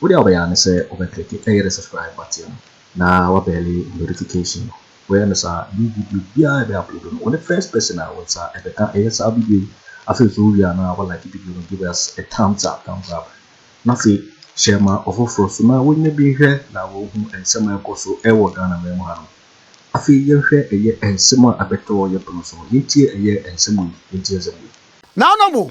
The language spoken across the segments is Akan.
Wode a wobɛyɛ ara ne sɛ wobɛ click ɛyɛ the subscribe button no na wa bɛɛle notification no. Woyɛ no saa a new video biara a yɛbɛ upload no wone first person a wo nsa ɛbɛka ɛyɛ saa video yi. Afei nso wowie a na wa like video no give us a thumbs up, thumbs up, na afei share ma ɔfoforɔ nso na wonya bi nhwɛ na wɔhu nsɛm a ɛkɔ so ɛwɔ Ghana man mu hanom. Afei yɛnhwɛ ɛyɛ nsɛm a ɛbɛtɔ yɛpono so no, yɛntie ɛyɛ nsɛm wei, yɛntie nsɛm wei. Naanom o,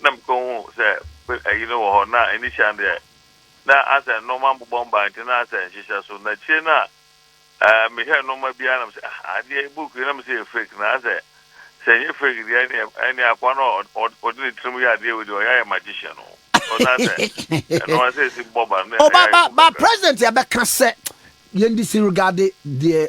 na mekɔhuu sɛ ayi no wɔ hɔ, na initial no deɛ na asɛ nnoɔma mbobɔ mba nti na asɛ nhyehyɛ so, na akyire no a mehwɛɛ nnoɔma biara na mesɛ ah adeɛ yi book yi na mesɛ yɛ fake na asɛ sɛ nyɛ fake deɛ ɛneɛ ɛneɛ akoa no a ɔde ne tirim yɛ adeɛ wei deɛ ɔyɛ ayɛ magician o ɔsɛ asɛ ɛno asɛ ɛsi bɔba no na ɛyɛ ayɛ fu kakra. Ba president ɛbɛka sɛ yɛn disregard deɛ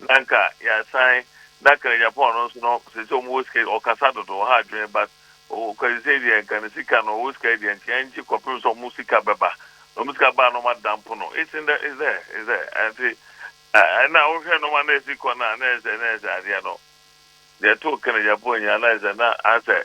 Na nka yɛasan na kra Japan no nso no sese ɔmo wɔ sika ɔkasa dodo ɔha adwene but oh kwasi sei deɛ nka ne sika no ɔwɔ sika yi deɛ nka yɛn gye kɔpem sɛ ɔmo sika bɛba na ɔmo sika baa na ɔmo adampo no it's in the it's there it's there ɛnti ɛna wohwɛ nɔma na ɛsi kɔ no a na ɛsɛ na ɛsɛ adeɛ no deɛ too kra Japan nyinaa na ɛsɛ na asɛ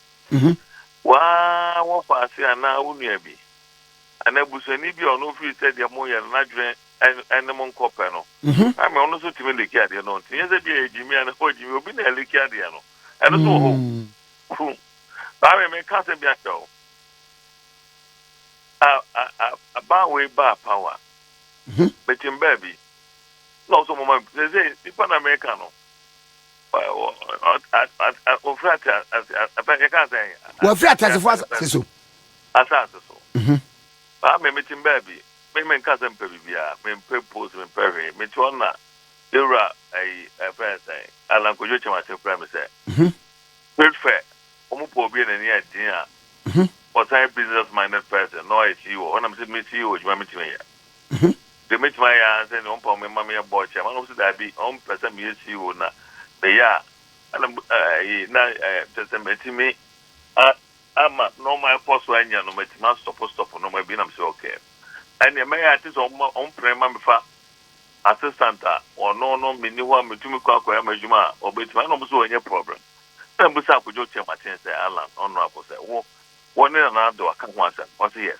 Woaa wɔfa ase anaa wo nua bi anaa busuani bi a ɔno firi sɛdeɛ mo yɛ no n'adwene ne mo nkɔ pɛ no na me ɔno nso tumi like adeɛ no nti nyɛ sɛ bi a yɛ gyimi anaa wɔ gyimi obi na ɛlike adeɛ no ɛno nso wɔ hɔ fu baa me me ka sɛ bi akyɛ o a a a a baa wei baa power metim baa bi na ɔso mo ma sɛ sɛ nipa na meka no Wɔfiri ateasefoɔ yɛka sɛ. Wɔfiri ateasefoɔ asase so. Asase so. Mhm. Baa mi mi ti baabi mi mi nka sɛ mpɛ biribiara mi mpɛ post mi mpɛ hwee mi ti hɔ na ewura ɛyi ɛfrɛ sɛ alankodwo kyɛmase frɛ mi sɛ. Mhm. Trade fair wɔn pɔ obi a n'ani yɛ den a. Mhm. Ɔsan yɛ business minded person na ɔyɛ CEO hɔ na mi sɛ mi CEO adwuma mi ti mi yɛ. ho. Deɛ mɛtumi ayɛ ara sɛ nea ɔmpɛ wɔn mma meyɛ bɔɔl kyɛ wɔn na wɔn nso daabi wɔn pɛ sɛ meyɛ CEO na meyɛ a ɛna ɛyi na ɛɛ kyɛ sɛ mɛtumi a ama nneɛma ɛkɔ so anya no mɛtumi asɔpo stɔpo nneɛma bi na mesɛ ɔkɛɛ ɛnneɛ mɛyɛ ate sɛ wɔn wɔn pere ma mefa assistant a ɔno no meni hɔ a metumi kɔ akɔyɛ ama adwuma a ɔbɛtumi ɛna wɔn nso wɔnyɛ problem ɛna mbusa akodwo kyɛ makyɛn sɛ Alan ɔno akɔ sɛ wo wɔne nana ado aka ho asɛm ɔsɛ yes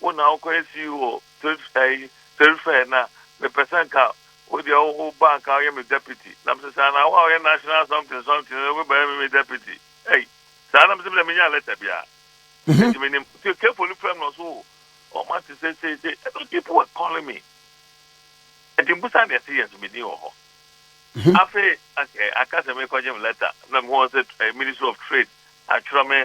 Wo na wokɔ esi wɔ Perif ɛyi Perifɛr na mepɛ sɛ nka wo deɛ wo wo ba nka ɔyɛ me Deputy na mese saa na wo a ɔyɛ National something something no wo bɛyɛ me me Deputy ei saa na mese me deɛ me nyaa letter biara enti me nim nti Kefo no frɛ me na ɔso o ɔmo ate sɛ sei sei ɛna people were calling me enti mbusa deɛ se yes me din wɔ hɔ afei aka sɛ mekɔgye me letter na me wɔn sɛ eh, Ministry of Trade atwerɛ me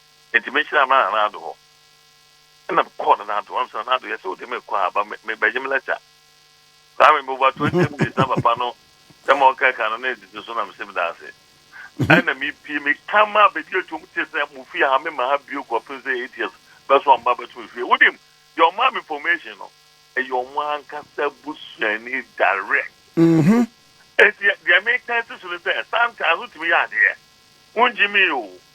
Enti mehyira me ara Nanaado hɔ. Ɛna mekɔɔ Nanaado, ɔno nso Nanaado yɛ sɛ ɔde me kɔ a, ba me, mebɛgye me lɛta. Saa me meboba twenty cedis na papa no sɛ ma ɔka ɛka no na ɛdidi so na mese meda ase. Ɛna mepie, meka ma baabi a ɛtwam te sɛ mo fie ha, memma ha bio kɔpem sɛ eight years bɛso a mma bɛto me fie. Wonim, deɛ ɔmaa me information no, ɛyɛ ɔmo ankasa busuani direct. Enti deɛ meka si so ne sɛ, sometimes wotumi yɛ adeɛ, wongye me o,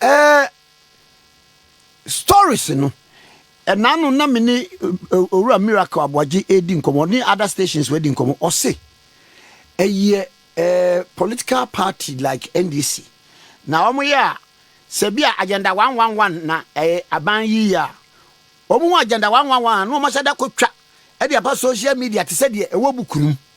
Ɛɛ stories no ɛna no na me ne owura miracle aboagye edi nkɔmɔ ne other stations wɔ di nkɔmɔ ɔse ɛyɛ ɛɛ political party like NDC na wɔn yɛ a sɛ bi a agenda one one one na ɛɛ aban yi yɛ a wɔn ho agenda one one one a na wɔn ahyɛ da kɔ twa ɛde aba social media te sɛ deɛ ɛwɔ book no mu.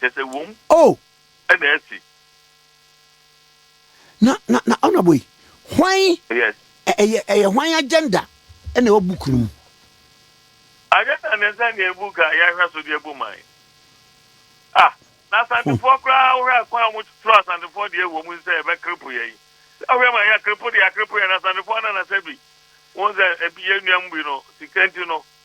Kyerɛ sɛ wom Oh! na asi. Na na na honourable yi, hwan Yes. ɛ ɛyɛ ɛyɛ hwan agenda ɛna ɛwɔ book no mu? Agenda ne sɛ nea book a yɛhwɛ so de abu man. Ah! Na Asantefoɔ koraa wohwɛ a kwan a wɔn twerɛ Asantefoɔ deɛ wɔ mu sɛ ɛbɛkrepo yɛn. Sɛ wohwɛ ma yɛakrepo deɛ akrepo yɛn na Asantefoɔ anan na sɛ bi. Wohu sɛ ebi yɛn nuanom bi no sika nti no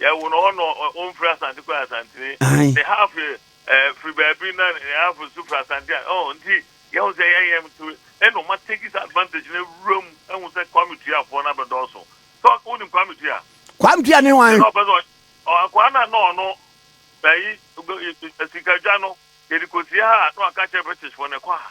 Yɛ wo no hɔ no wo mfiri asante kɔ asantene ne half yɛ eh, firi baabi na ne half nso firi asante a oh nti yɛ wo sɛ yɛ yɛ nti ɛna ɔma take this advantage na wura mu ɛhu sɛ kwame tua fɔ na bɛdɔɔso tɔ wo nim kwame tua kwame tua ne wan ɛna ɔpɛ sɛ ɔkwa na na ɔno bɛyi sikadwa no yɛde kɔsi ha na ɔka kyerɛ british fɔ na ɛkɔ ha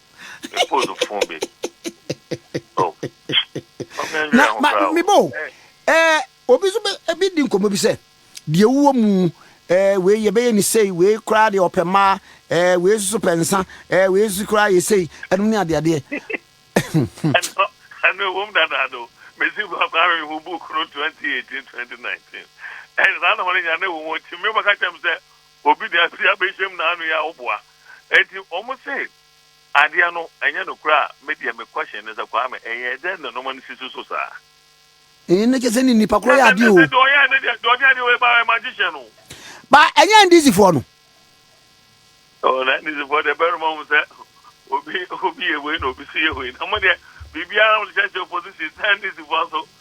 Me phone no phone be. Oh. Na ma me bo. Eh, obi so be ebi di nkomo bi sɛ, deɛ wuwɔ mu eh wei yɛ bɛyɛ ne sei, wei koraa deɛ ɔpɛ mmaa, eh wei so pɛ nsa, eh wei so koraa yɛ sei, ɛno ne adeɛ adeɛ. Ɛno ɛno ewom dada do. Mesi ba ba mi hu book no 2018 2019. Ɛn saa na wɔn nyɛ na ewom nti mi bɛka kyɛm sɛ Obi de ase abɛhyɛm na ano yɛ a woboa. Enti wɔn se adeɛ no ɛnyɛ nokorɛ a, me deɛ me question ne sɛ Kwame ɛyɛɛ dɛn na nnoɔma no sisi so saa? Eeh ne kyɛ sɛ ne nipa korɔ yɛ adeɛ oo. Ɛnɛ sɛ deɛ ɔyɛɛ ne deɛ, deɛ ɔde adeɛ wei baeɛ magician no. Ba ɛnyɛ NDC foɔ no. Oh na NDC foɔ deɛ bɛrema hu sɛ obi obi yɛ wei na obi so yɛ wei na mo deɛ biribiara mo de hyɛhyɛ opposition na NDC foɔ nso.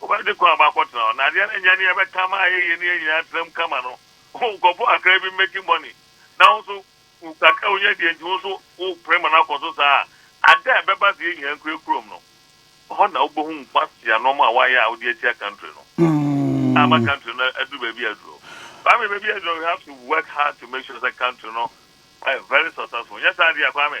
Wobɛde kwan aba akɔtena hɔ, na adeɛ no nyɛ neɛ ɛbɛka ama ayɛ yie ne yɛn nyinaa atenam kama no. Nkurɔfoɔ kakra bi making money, na wo nso wo kakra a wonya deɛ nti wo nso wopere ma no akɔ so saa a, ada a ɛbɛba sɛ yɛn nyinaa nkura kurom no, ɛhɔ na wobɛhu nkwaseaa nnoɔma a woayɛ a wode atia country no ama country no aduru baabi a aduru. Kwame, baabi a aduru no we have to work hard to make sure sɛ country no ɛyɛ very successful, nyɛ saa deɛ a Kwame,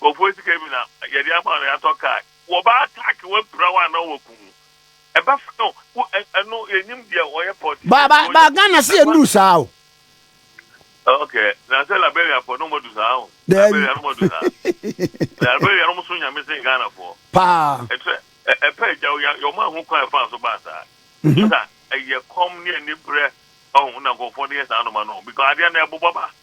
Nkurɔfoɔ sika bi na yɛde ama no yɛatɔ car wɔba attack wo apira wo anaa wɔku wo ɛbɛfa no wo ɛno yɛnim deɛ wɔyɛ politician ba ba ba Ghana se yɛnuru saa o ok na sɛ Liberia foɔ no wɔn adu saa o Liberia no wɔn adu saa Liberia no wɔn so nyame sen Ghana foɔ paa ɛtɛ ɛpɛ ɛgya wo ya yɛ wɔn ahu kwan ɛfa so baa saa ɛsa ɛyɛ kɔm ne ɛni brɛ ɔhun na nkurɔfoɔ de yɛ saa noma no because adeɛ na ɛbobɔ ba.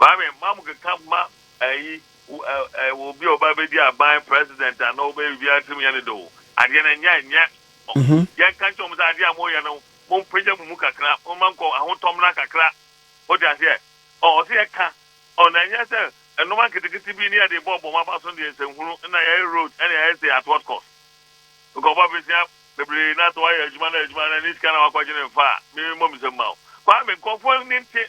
Maame, mma mo keka mma ayi, wɔ obi a ɔba bɛdi aban, president, a na ɔbɛyɛ biribi atim yɛ ne de o. Adeɛ no nyɛ nyɛ. Yɛn ka nkyɛn wɔn sɛ adeɛ a mo yɛ no, mo mpagya mo mu kakra, mo ma nkɔ ahotɔ mmra kakra. Mo te aseɛ? Ɔ, ɔsɛ yɛ ka. Ɔ, na ɛnyɛ sɛ nnoma nketekete bi ne yɛde bɔ bɔ mo aba so deɛ nsɛnhunu, ɛna yɛyɛ road, ɛna yɛyɛ sɛ at what cost? Nka ɔba bɛsua bebree na sɛ wayɛ adwuma na adwuma no ne sika na wakɔgye no mfa a, me mmɔ me nsam ma wo. Kwame, nkurɔfoɔ ani nte.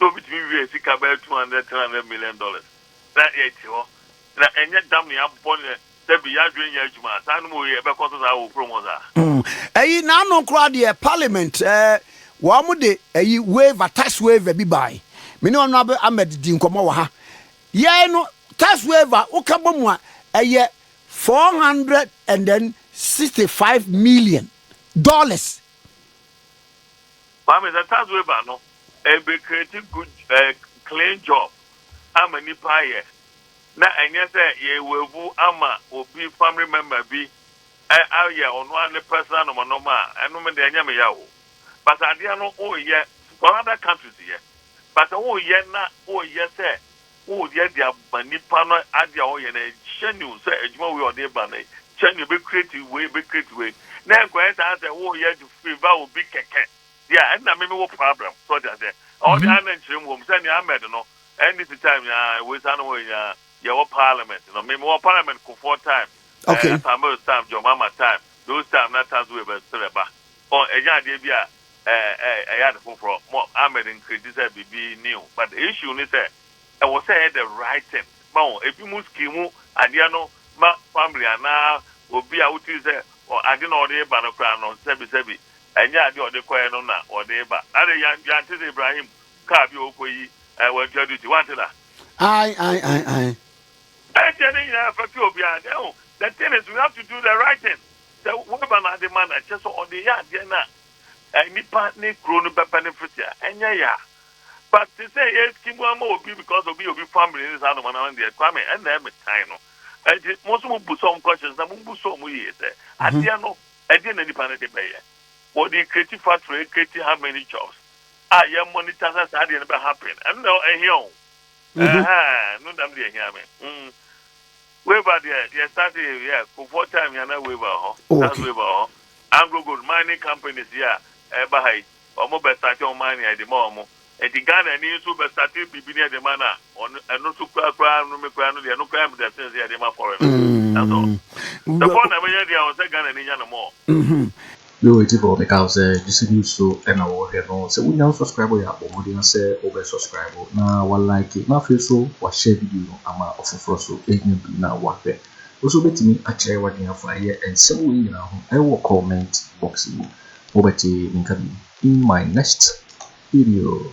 na obi tumi wiaa sika bɛyɛ two hundred, three hundred million dollars na yɛte hɔ na ɛnyɛ dam na yɛabɔ no dabi yɛadwene nyɛ adwuma a, saa nom wei ɛbɛkɔ so saa wɔ kurom hɔ saa? Ɛyi n'ano koraa deɛ parliament ɛɛ wɔn de ɛyi waiver tax waiver bi bae me ne honourable Ahmed di nkɔmɔ wɔ ha yɛe no tax waiver woka bɔ mu a ɛyɛ four hundred and then sixty five million dollars Maame sɛ tax waiver no ɛbɛ create good clean job ama nipa ayɛ na ɛnyɛ sɛ yɛ waivu ama obi family member bi ayɛ ɔno ara ne personal nɔma nɔma a ɛno me deɛ ɛnyɛ me ya o but adeɛ no wo yɛ for other countries yɛ but wo yɛ na wo yɛ sɛ Woyɛ de aba nipa no ade a ɔyɛ no ɛkyɛ new sɛ adwuma wei a ɔde ba no ɛkyɛ new ɛbɛ create wei ɛbɛ create wei na ɛnkɔyɛ saa sɛ woyɛ de favour obi kɛkɛ deɛ a ɛna me me wɔ problem so ɔde aseɛ ɔde mm-hmm. ana nkyerɛ mu wɔm sɛ ne Ahmed no NDC time ya wei saa no wɔ ya yɛwɔ parliament no me me wɔ parliament kofoɔ time okay. uh, Samuel time John Mama time those time na tax wei bɛ srɛ ba ɔ ɛnyɛ adeɛ bi a eh eh ɛyɛ ade foforɔ mo Ahmed nkredi sɛ biribi new but the issue ne sɛ ɛwɔ sɛ ɛyɛ the right thing ma wo ebi mo scheme adeɛ no ma family anaa obi a wotiri sɛ ɔ ade na ɔde ba no koraa no sɛbi sɛbi ɛnyɛ adeɛ a ɔde kɔɛ no na ɔde ba ade yan yante sɛ Ibrahim car bi a ɔkɔ yi eh wantua duty wante da. Ae ae ae ae. Ɛnkyɛ ne nyinaa ɛfɛte obiara deɛ ho the thing is we have to do the right thing. Sɛ woaba no ade ma no a, kyerɛ sɛ ɔde yɛ adeɛ no a nnipa ne kuro no bɛpɛ no mfiti a, ɛnyɛ ya. But te sɛ yɛresi mu ama obi because obi yɛ obi family ne saa nnoɔma no ano deɛ, Kwame, ɛnna ɛyɛ me tan no. Ɛnti mo nso mo busa wɔn questions na mo busa wɔn yie sɛ, adeɛ no, ɛdeɛn na nnipa no de bɛyɛ? Wɔde create factory, ɛcreate how many jobs a yɛ monitor sɛ saa adeɛ no bɛ happen. Ɛno na ɛhia wɔn. Ɛhɛɛ, no dam deɛ ɛhia me. Mm. Weber deɛ yɛ start yɛ yɛ kofoɔ time yɛ na Weber wɔ hɔ oh, Charles okay. Weber wɔ hɔ Anglo Gold mining companies yɛ a ɛba ha yi wɔn bɛ start wɔn mining ɛde ma wɔn nti Ghana ni nso bɛ start biribi ni ɛde ma na wɔn ɛno nso kura kura no mi kura no deɛ ɛno kura mi deɛ sɛn sɛ ɛde ma foreign no ɛso ɛfɔ na ɛbɛyɛ deɛ wɔn sɛ Ghana ni nya no mɔ. Yo eti bɔ me ka wo sɛ gyese news so na wo hwɛ no sɛ wo nya wo subscribe yɛ a bɔ mmɔden a sɛ wo bɛ subscribe na wa like na afei so wa share video no ama ɔfoforɔ so enya bi na wa hwɛ wo so bɛ tumi akyerɛ waden afa yɛ nsɛm wei nyinaa ho ɛwɔ comment box mu mo bɛ te me nka bi in my next video.